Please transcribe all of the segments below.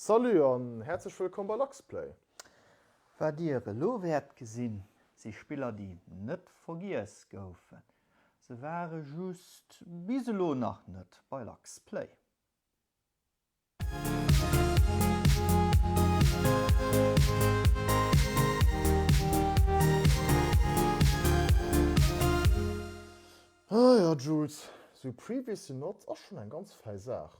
Salut an häerzlech wëllkomm bei LuxPlay! Wat dir elo wäert gesinn si Spiller déi net vergiess goufen, se ware just bis elo nach net bei LuxPlay. Ah jo Jules, sou Previously Not ass schonn eng ganz fäi Saach.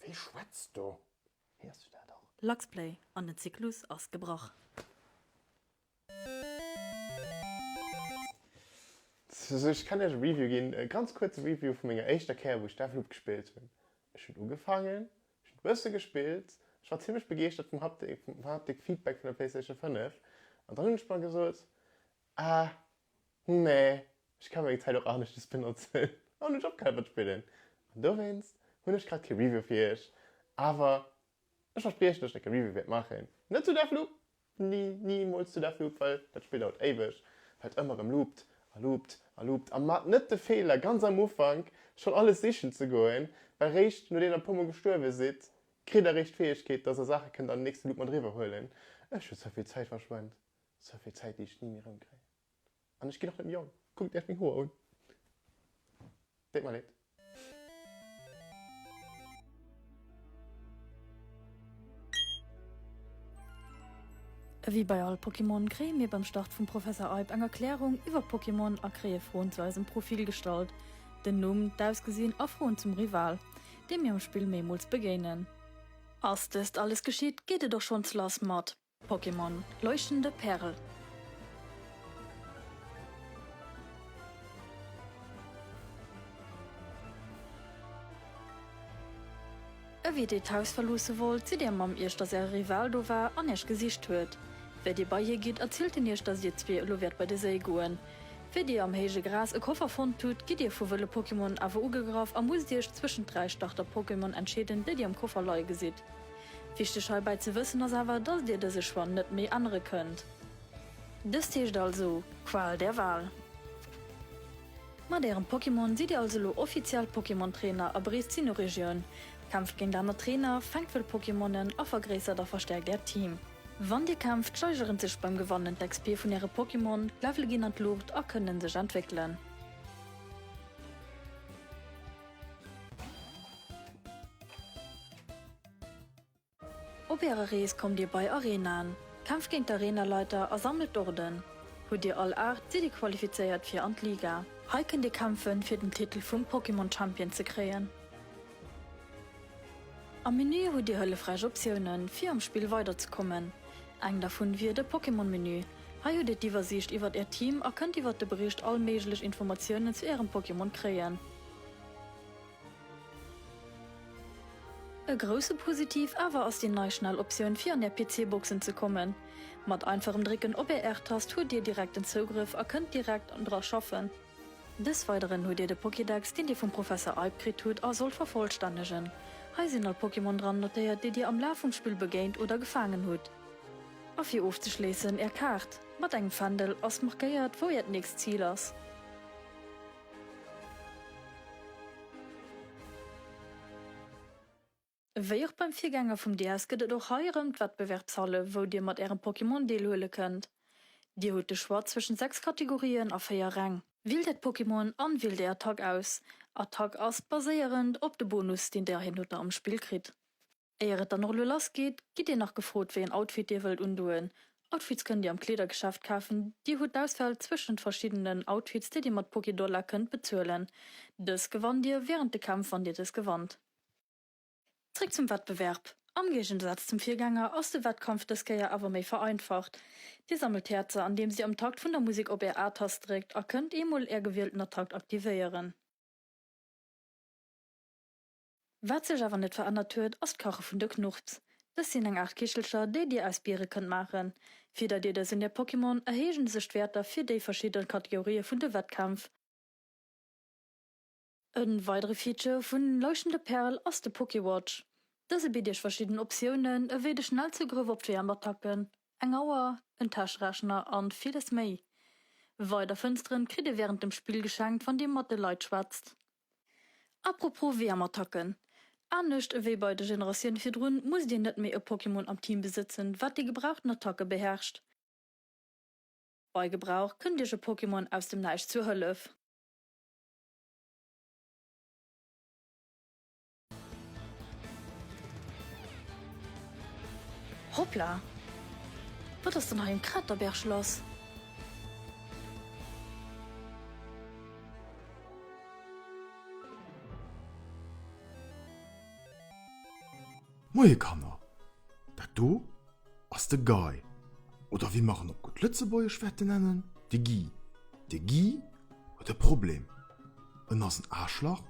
Wee schwätzt do? Héiers du dat och? Luxplay an den Zyklus ass gebrach. Sou, ech kann iech e Review ginn, e ganz kuerze Review vu menger éischter Kéier, wou ech Deathloop gespillt hunn. Ech hunn ugefaangen, ech hunn e bësse gespillt, ech war zimmlech begeeschtert vum Haptik, vum Haptik-Feedback vun der PlayStation 5. An dann hunn ech mer gesot, Ah nee, ech ka meng Zäit och aneschtes benotzen an ech och gäre spillen. An dowéinst hunn ech grad kee Review fir iech. Awer ech verspriechen, datt ech dacks e Review wäert maachen. Net zu Deathloop, ni, nimools zu Deathloop, well dat Spill dauert éiweg, well et ëmmer erëm loopt a loopt a loopt. A maacht net de Feeler, ganz am Ufank schonn alles sichen ze goen, well réischt nodeem der e puermol gestuerwe sidd, kritt der eréischt d'Fäegkeet, datt der Saache kënnt an den nächste Loop mat eriwwer huelen. Ech hu ze vill Zäit verschwent. Souvill Zäit déi ech ni méi rëm kréien. An ech ginn och net méi jong. Kuckt Iech meng Hoer un. Deet mer Leed. Ewéi bei all Pokémon kréie mir beim Start vum Professor Eib eng Erklärung iwwer Pokémon a kréie Froen zu eisem Profil gestallt, den Numm, d'Ausgesinn a Froen zum Rival, deem mir am Spill meemools begéinen. Ass dëst alles geschitt, geet et och schonns lass mat Pokémon Leuchtende Pärel. Ewéi dir d'Haus verloosse wollt, sidd dir mam Iech, dass äre Rival do war an iech gesicht huet. Wéi dir bei hie gitt, erzielt en iech, dass dir zwee elo wäert bei de Séi goen. Wéi dir am héije Gras e Koffer fonnt hutt, gitt dir vu wëlle Pokémon awer ugegraff a musst iech zwëschent dräi Starter-Pokémon entscheeden, déi dir am Koffer leie gesitt. Wichteg heibäi ze wëssen ass awer, dass Dir dëse Choix net méi ännere kënnt. Dëst heescht also, Qual der Wahl! Mat Ärem Pokémon sidd Dir also elo offiziell Pokémon Trainer a bereest d'Sinnoh-Regioun, kämpft géint aner Trainer, fänkt wëll Pokémonen a vergréissert a verstäerkt Äert Team. Wann Dir kämpft, steigeren sech beim Gewannen d'XP vun Äre Pokémon, d'Levele ginn an d'Luucht a kënnen sech entwéckelen. Op ärer Rees kommt dir bei Arenaen, kämpft géint d'Arenaleiter a sammelt d'Orden. Hutt dir all 8, sidd dir qualifizéiert fir an d'Liga. Hei kënnt dir kämpfen, fir den Titel vum Pokémon Champion ze kréien. Am Menü hutt dir hëllefräich Optiounen, fir am Spill weiderzekommen. Eng dervun wier de Pokémon-Menü. Hei hutt dir d'Iwwersiicht iwwert äert Team a kënnt iwwert de Bericht all méiglech Informatiounen zu ärem Pokémon kréien. E grousse Positiv awer ass déi nei Schnelloptioun fir an Är PC-Boxen ze kommen. Mat einfachem Drécken op Är R-Tast hutt Dir direkten Zougrëff a kënnt direkt dra schaffen. Des Weideren hutt Dir de Pokédex, deen Dir vum Professor Eib kritt hutt a sollt vervollstännegen. Hei sinn all Pokémon dran notéiert, déi Dir am Laf vum Spill begéint oder gefaangen hutt. A fir ofzeschléissen, Är Kaart mat engem Fändel ass markéiert, wou Äert nächst Zil ass. Wéi och beim Virgänger vum DS gëtt et och hei erëm d'Wettbewerbshalle wou dir mat ärem Pokémon deelhuele kënnt. Dir hutt de Choix zwëschen 6 Kategorien a 4 Räng. Wielt äert Pokémon an wielt är Attack aus. Attack ass baséierend op de Bonus deen dir hin oder am Spill kritt. Éier et dann och elo lass geet, gitt Dir nach gefrot, wéi en Outfit Dir wëllt undoen. Outfits kënnt Dir am Kleedergeschäft kafen. Dir hutt d'Auswahl zwëschent verschiddenen Outfits, déi Dir mat Pokédollar kënnt bezuelen. Dës gewannt Dir während de Kämpf, wann Dir dës gewannt. Zréck zum Wettbewerb. Am Géigensaatz zum Virgänger ass de Wettkampf dës Kéier awer méi vereinfacht. Dir sammelt Häerzer, andeems Dir am Takt vun der Musek op Är A-Tast dréckt a kënnt eemol Är gewielten Attackt aktivéieren. Wat sech awer net verännert huet, ass d'Kache vun de Knurps. Dës sinn eng Aart Kichelcher, déi Dir aus Biere kënnt maachen. Fir datt Dir dës un Är Pokémon erhéijen, sech d'Wäerter fir déi verschidde Kategorië vun de Wettkämpf. E weidere Feature vu Leuchtende Pärel ass de Pokéwatch. Dëse bitt Iech verschidden Optiounen, ewéi de Schnellzougrëff op GM-Attacken, eng Auer, en Täschrechner an villes méi. Weider Fënsteren kritt Dir wärend dem Spill geschenkt, wann Dir mat de Leit schwätzt. Apropos Wärmattacken, Anescht ewéi bei de Generatioune virdrun musst Dir net méi e Pokémon am Team besëtzen, wat déi gebrauchten Attacke beherrscht. Bei Gebrauch kënnt Iech e Pokémon aus dem Näischt zur Hëllef. Hoppla! Wat ass dann hei um Kraterberg lass? Moie Kanner, dat do ass de Guy, oder wéi mer en op gutt Lëtzebuergesch wäerte nennen, de Guy. De Guy huet e Problem. En ass en Aaschlach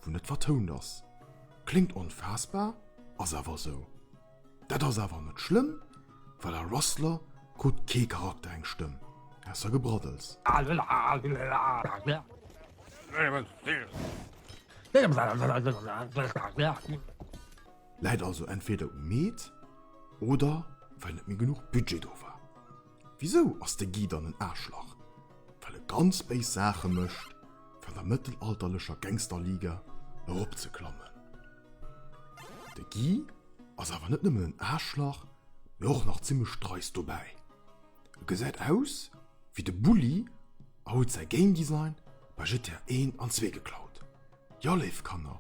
wou net vertount ass. Kléngt onfaassbar, ass awer esou. Dat ass awer net schlëmm, well a Rustler krut kee Charakter eng Stëmm, ausser Gebraddels. Läit also entweder um Meet oder well net méi genuch Budget do war. Wisou ass de Guy dann en Aarschlach? Well e ganz béis Saache mécht, fir an der mëttelalterlecher Gangster-Liga eropzeklammen. De Guy ass awer net nëmmen en Aarschlach, mee och nach zimmlech dreist dobäi. E gesäit aus wéi de Bully a huet säi Game Design bei GTA I an ii geklaut. Jo, léif Kanner,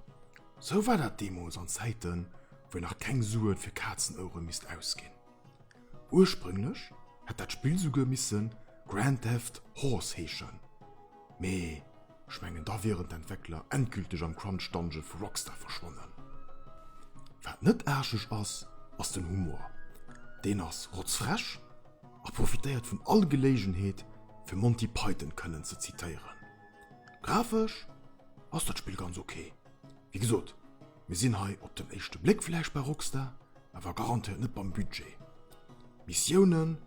sou war dat deemools an Zäiten, wou een nach keng Suen fir Kazenouere misst ausginn. Ursprünglech hätt dat Spill souguer misse Grand Theft Horse heeschen, mee ech mengen da wieren d'Entwéckler endgülteg am Crunch Dungeon vu Rockstar verschwonnen. Wat net aascheg ass, ass den Humor. Deen ass rotzfrech a profitéiert vun all Geléigenheet fir Monty Python kënnen ze zitéieren. Grafesch ass dat Spill ganz ok, wéi gesot. Mir sinn hei op den éischte Bléck vläicht bei Rockstar, awer garantéiert net beim Budget. D'Missiounen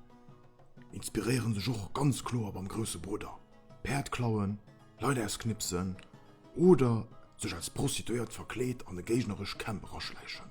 inspiréiere sech och ganz kloer beim grousse Brudder, Päerd klauen, Leit ausknipsen oder sech als Prostituéiert verkleet an e géignerescht Camp eraschläichen.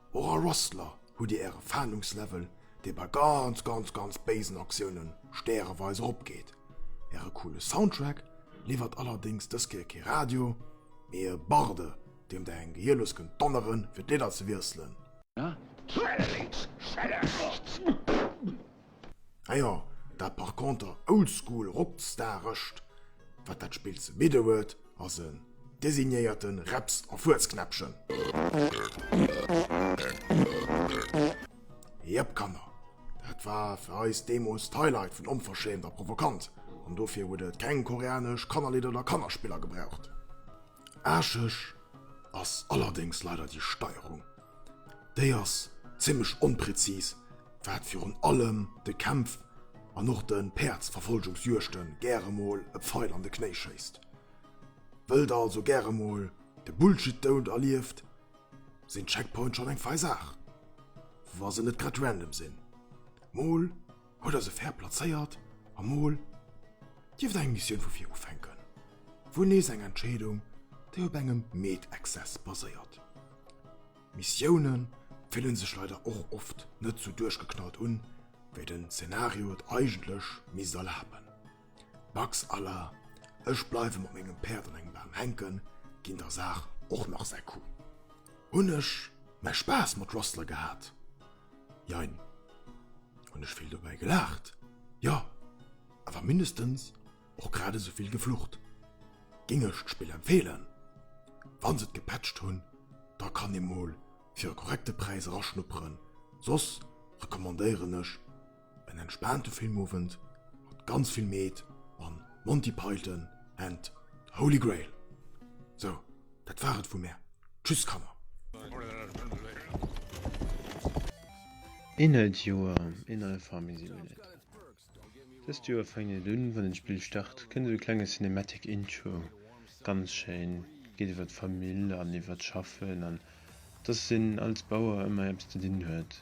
Och a Rustler hutt dir äre Fahndungslevel, dee bei ganz, ganz, ganz béisen Aktiounen stäreweis eropgeet. Äre coole Soundtrack liwwert allerdéngs dës Kéier kee Radio, mee e Barde, deem der eng Gehier lues kënnt donnere fir d'Lidder ze wiesselen. Schelle lénks, schelle rechts! Ah jo, dat par conter oldschool rockstarescht, wat dat Spill ze bidden huet, ass en designéierte Reps a Fuerzknäppchen. Jep, Kanner, dat war fir eis deemools d'Highlight vun Onverschämt a Provokant, an dofir huet et keng koreanesch Kannerlidder oder Kannerspiller gebraucht. Aarscheg ass allerdéngs leider déi Steierung. Déi ass zimmlech onpräzis, wat virun allem de Kämpf an och de Päerdsverfolgungsjuegte gäre mol e Pfeil an de Knéi schéisst. Wëll der also gäre mol de Bullshit-Doud erlieft, sinn d'Checkpoint schonn eng fein Saach, wa se net grad random sinn. Mol. Haut ass e fair plazéiert a mol dierft eng Missioun vu vir ufänken. Wuel nees eng Entscheedung, déi op engem Meetexzess baséiert. Missioune fillen sech leider och oft net sou duerchgeknallt un, wéi den Zenario et eigentlech misst erlaben. Dacks à la Ech bleiwe mat mengem Päerd an engem Bam hänken ginn der Saach och nach säi Coup. Hunn ech mäi Spaass mat Rustler gehat? Jein. Hunn ech vill dobäi gelaacht? Jo. Awer mindestens och grad esou vill geflucht. Géing ech d'Spill empfeelen? Wa se et gepatcht hunn, da kann ee mol fir e korrekte Präis eraschnupperen, soss recommandéieren ech En entspaante Filmowend mat ganz vill Meed an Monty Python and the Holy Grail. Sou, dat war et vu mär. Tschüss Kanner! Inhalt Joer Inhalt Farming Simulator Dëst Joer fänkt et un, wann den Spill start kënnt et e klenge Cinematic Intro. Ganz schéin, geet iwwer d'Famill an iwwer d'Schaffen an dass een als Bauer ëmmer eppes ze dinn huet.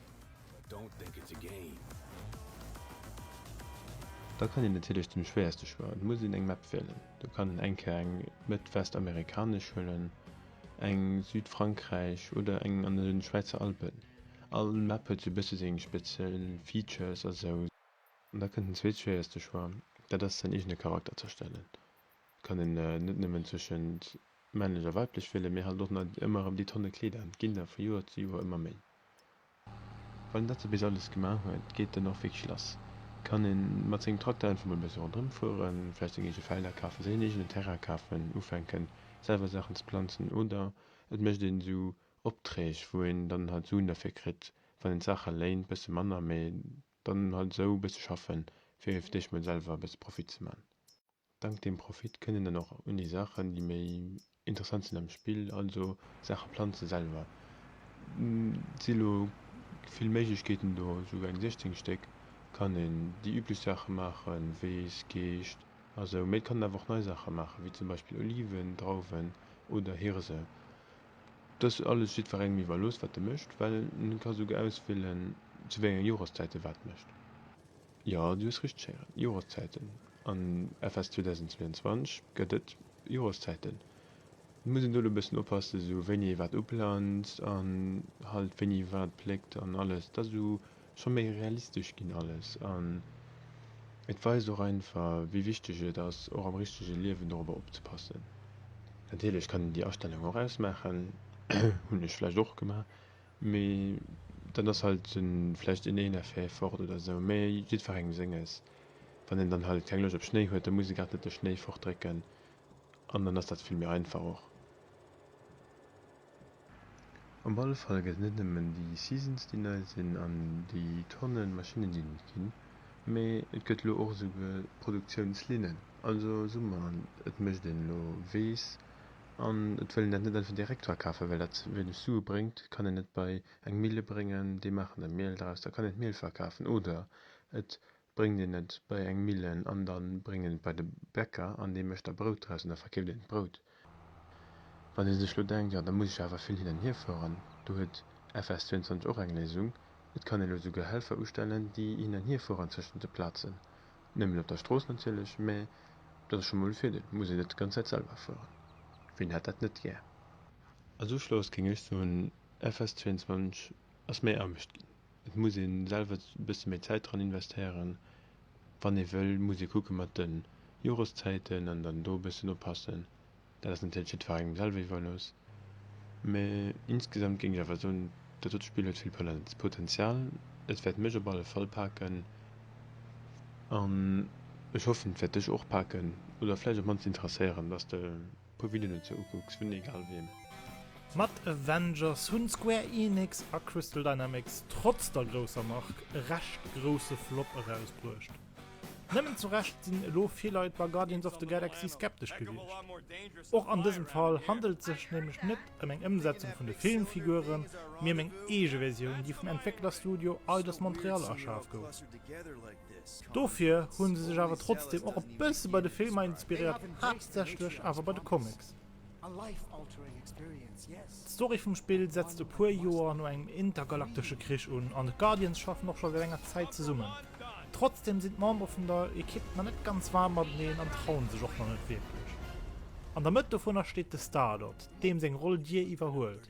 Da kann een natierlech den schwéierste Choix, et muss een eng Map wielen. Do kann een eng Kéier eng mëtt-west-amerikanesch huelen, eng Südfrankräich oder eng an den Schwäizer Alpen. All Map huet sou e bësse seng speziell Features a sou. An da kënnt den zweetschwéierste Choix, dat ass säin eegene Charakter z'erstellen. kënnen net nëmmen zwëschent männlech a weiblech wielen, mee halt och nach ëmmer erëm déi Tonne Kleeder an. Et ginn der vu Joer zu Joer ëmmer méi. Wann een dat sou bis alles gemaach huet, geet dann och wierklech lass. Kann ee mat sengem Tracteur einfach mol e bësse ronderëm fueren, vläicht seng eege Felder kafen, sech en eegenen Terrain kafen, ufänken selwer Saachen ze planzen oder et mécht een esou Opträg, wou een dann halt Suen derfir kritt, wann een d'Saache léint, bësse manner, mee dann halt esou bësse schaffen, fir fir d'éischt mol selwer e bësse Profit ze man. Dank deem Profit kënnen dann och un déi Saachen, déi méi interessant sinn am Spill, also Saache planze selwer, et si lo vill Méiglechkeeten do, esouguer eng 16 Stéck, kann een déi üblech Saache maachen, Weess, Geescht a sou, mee et kann een awer och nei Saache maachen, wéi zum Beispill Oliven, Drauwen oder Hirse. Et ass alles jiddwerengem iwwerlooss, wat e mécht, well en ka esouguer auswielen, zu wéi enge Joreszäit e wat mécht. Jo, du hues richteg héieren, Joreszäiten. An FS 2022 gëtt et Joreszäiten. Et muss een do elo e bëssen oppassen, esou wéini ee wat uplanzt an halt wéini wat pléckt an alles. Et ass elo scho méi realistesch ginn alles an et weist och einfach, wéi wichteg et ass, och am richtege Liewen dorobber opzepassen. Natierlech kann een déi Astellung och ausmaachen, hunn ech vläicht och gemaach, Mee dann ass halt vläicht een een effet fort oder sou, mee jiddferengem senges. Wann een dann halt keng Loscht op Schnéi huet, da muss ee grad net de Schnéi fort drécken an dann ass dat vill méi einfach och. Op alle Fall gëtt et net nëmmen déi Seasons déi nei sinn an déi Tonnen Maschinnen déi net ginn, mee et gëtt elo och esou Produktiounslinnen. Also Summer an et mécht een elo weess. An et wëll een dat net un den Direkt verkafen, well dat ze wéineg Sue bréngt. Kann een et bei eng Mille bréngen, déi maachen da Miel draus, da kann een d'Miel verkafen. Oder et bréngt een et bei eng Millen an da bréngt een et bei de Bäcker an dee mécht da Brout draus an da verkeeft een d'Brout. Wann ee sech elo denkt, jo da muss ech awer vill hin an hier fueren, do huet FS 22 och eng Léisung, Et kann ee elo esouguer Helfer ustellen, déi hin an hier fueren tëschent de Plazen. Nëmmen op der Strooss natierlech, mä dat ass scho mol e Virdeel, muss een net d'ganz Zäit selwer fueren. Wien hätt dat net gär? Als Uschloss kéng ech soen, FS 22 ass méi Aarbecht ginn. Et muss ee selwer e bësse méi Zäit dran investéieren, wann ee wëll. Muss ee kucke mat de Joreszäiten an dann do e bëssen oppassen, Dat ass natierlech net jiddwerengem selwer iwwerlooss, mee insgesamt géing ech awer soen, dat dot Spill huet vill Potenzial. Et wäert mech op alle Fall paken an ech hoffen, et wäert dech och paken oder vläicht op mannst interesséieren, dass de puer Videoen dozou ukucks vun egal wiem. Mat Avengers hunn Square Enix a Crystal Dynamics trotz der grousser Mark e recht grousse Flop erausbruecht. Nëmmen zu Recht sinn elo vill Leit bei Guardians of the Galaxy skeptesch gewiescht. Och an dësem Fall handelt et sech nämlech net ëm eng Ëmsetzung vun de Filmfiguren, mee ëm eng eege Versioun, déi vum Entwécklerstudio Eidos-Montréal erschaf gouf. Dofir hu se sech awer trotzdeem och e bësse bei de Filmer inspiréiert, haaptsächlech awer bei de Comics. D'Story vum Spill setzt e puer Joer no engem intergalaktesche Krich un, an d'Guardians schaffen och scho säit enger Zäit zesummen. Trotzdeem sinn d'Membere vun der Ekipp nach net ganz waarm mateneen an trauen sech och nach net wierklech. An der Mëtt dovunner steet de Star-Lord, deem seng Roll Dir iwwerhuelt.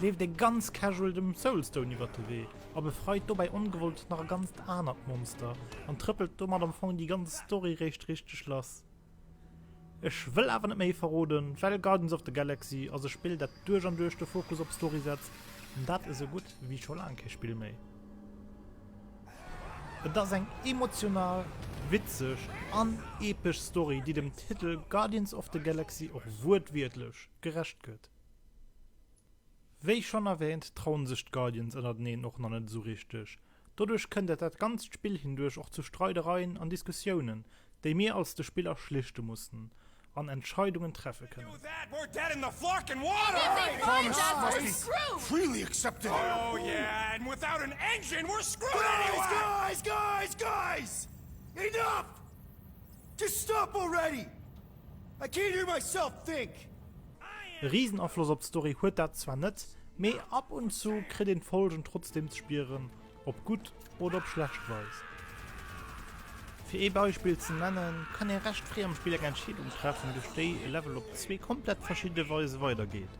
leeft ee ganz casual dem Soulstone iwwert de Wee a befreit dobäi ongewollt nach e ganzt anert Monster an trëppelt domat am Fong déi ganz Story réischt richteg lass. Ech wëll awer net méi verroden, well Guardians of the Galaxy ass e Spill dat duerch an duerch de Fokus op Story setzt, an dat esou gutt wéi scho laang kee Spill méi. Et ass eng emotional, witzeg an epesch Story, déi dem Titel Guardians of the Galaxy och wuertwiertlech gerecht gëtt. Wéi schonn erwäänt, trauen sech d'Guardians ënnerteneen och nach net esou richteg. Doduerch kënnt et dat ganzt Spill hinduerch och zu Streidereien an Diskussiounen, déi mir als de Spiller schlichte mussen an Entscheidungen treffe kënnen. I can't hear myself think! E riesen Afloss op d'Story huet dat zwar net, mee ab und zu kritt een d'Folgen trotzdem ze spieren, op gutt oder op schlecht Weis. Fir ee Beispill ze nennen, kann ee recht fréi am Spill eng Entscheedung treffen, duerch déi e Level op zwee komplett verschidde Weise weidergeet.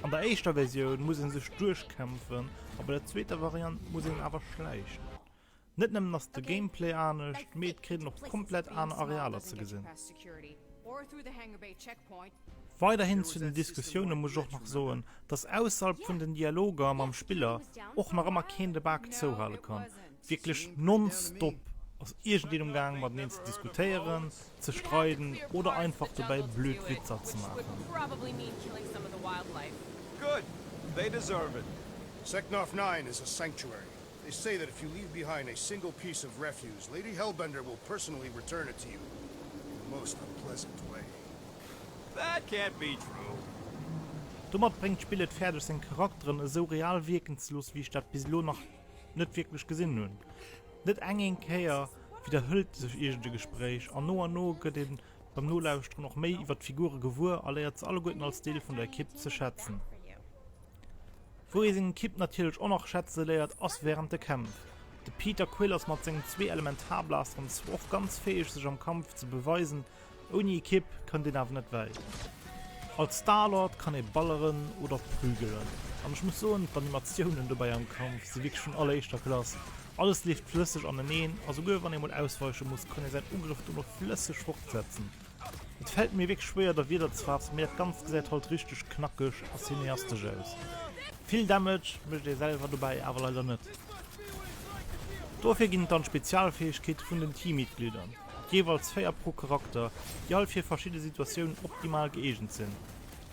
An der éischter Versioun muss ee sech duerchkämpfen a bei der zweeter Variant muss een awer schläichen. Net nëmmen ass de Gameplay anescht, mee et kritt een och komplett aner Arealer ze gesinn. Weiderhin zu den Diskussioune muss ech och nach soen, dass ausserhalb vun den Dialoger mam Spiller och nach ëmmer keen de Bak zouhale kann. Wierklech nonstop ass iergendeen um Gaang mateneen ze diskutéieren, ze streiden oder einfach dobäi blöd Witzer ze maachen. They say that if you leave behind a single piece of refuse, Lady Hellbender will personally return it to you in the most unpleasant way. That can't be true. Domat bréngt d'Spill et fäerdeg seng Charakteren esou real wierken ze loossen, wéi ech dat bis elo nach net wierklech gesinn hunn. Net eng eng Kéier widderhëlt sech iergend e Gespréich, an no an no gëtt ee beim Nolauschteren och méi iwwer d'Figure gewuer a léiert se alleguerten als Deel vun der Ekipp ze schätzen. Wou ee seng Ekipp natierlech och nach schätze léiert, ass wärend de Kämpf. De Peter Quill ass mat sengen zwee Elementarblasteren zwar och ganz fäeg sech am Kampf ze beweisen, ouni Ekipp kënnt een awer net wäit. Als Star-Lord kann ee balleren oder prügelen an ech muss soen, d'Animatiounen dobäi am Kampf si wierklech vun alleréischter Klass. Alles leeft flësseg aneneen a souguer wann ee mol ausweiche muss, kann ee säin Ugrëff dono flësseg fortsetzen. Et fällt mir wierklech schwéier der Wierder ze faassen, mee dat ganzt gesäit halt richteg knackeg a cineastesch aus. Vill Damage mécht ee selwer dobäi awer leider net. Dofir ginn et dann d'Spezialfäegkeete vun den Teammitglieder, jeeweils 4 pro Charakter, déi all fir verschidde Situatiounen optimal gëeegent sinn.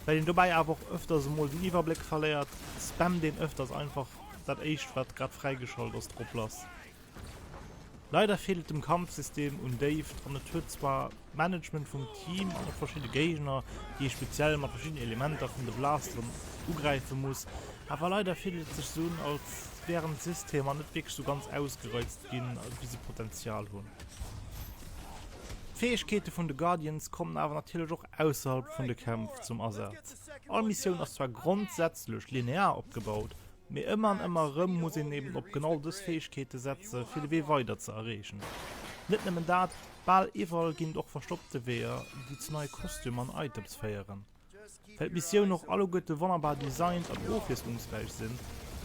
Well een dobäi awer och ëfters emol den Iwwerbléck verléiert, spammt een ëfters einfach dat éischt wat grad fräigeschalt ass drop lass. Leider feelt et dem Kampfsystem un Déift an et huet zwar d'Management vum Team an och verschidde Géigner, déi ee speziell mat verschiddenen Elementer vun de Blasteren ugräife muss, awer leider fillt et sech esou un, als wären d'Systemer net wierklech esou ganz ausgereizt ginn, wéi se Potenzial hunn. D'Fäegkeete vun de Guardians kommen awer natierlech och ausserhalb vun de Kämpf zum Asaz. All Missioun ass zwar grondsätzlech linear opgebaut, Mee ëmmer an ëmmer erëm muss een eben op genau dës Fäegkeete setze fir de Wee weider ze erreechen. Net nëmmen dat, bal iwwerall ginn et och verstoppte Weeër, déi zu neie Kostümer an Items féieren. Well d'Missioun och alleguerte wonnerbar designt an ofwiesslungsräich sinn,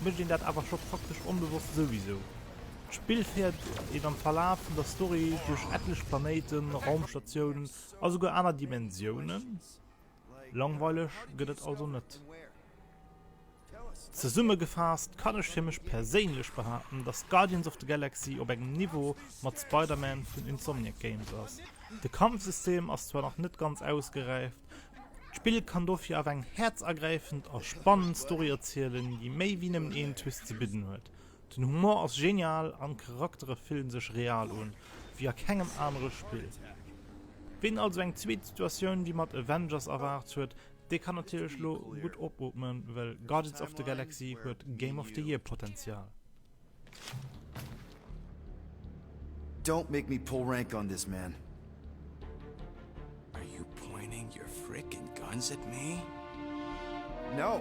mécht een dat awer scho praktesch onbewosst souwisou. D'Spill féiert een am Verlaf vun der Story duerch etlech Planéiten, Raumstatiounen a souguer aner Dimensiounen. Langweileg gëtt et also net. Zesummegefaasst kann ech fir mech perséinlech behaapten, dass Guardians of the Galaxy op engem Niveau mat Spider-Man vun Insomniac Games ass. De Kampfsystem ass zwar nach net ganz ausgeräift, d'Spill kann dofir awer eng häerzergräifend a spannend Story erzielen, déi méi wéi nëmmen een Twist ze bidden huet. Den Humor ass genial an d'Charaktere fillen sech real un, wéi a kengem anere Spill. Ween also eng zweet Situatioun wéi mat Avengers erwaart huet, dee kann natierlech lo gutt opootmen, well Guardians of the Galaxy huet Game of the Year Potential. Don't make me pull rank on this, man. Are you pointing your frickin' guns at me? No!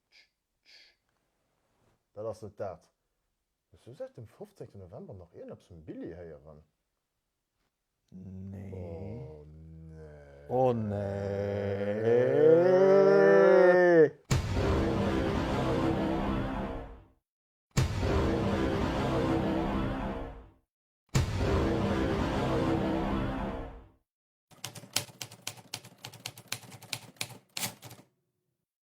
Tsch, tsch, dat ass net dat. Hues du säit dem 15 November nach ierneps vum Billy héieren? Oh nee.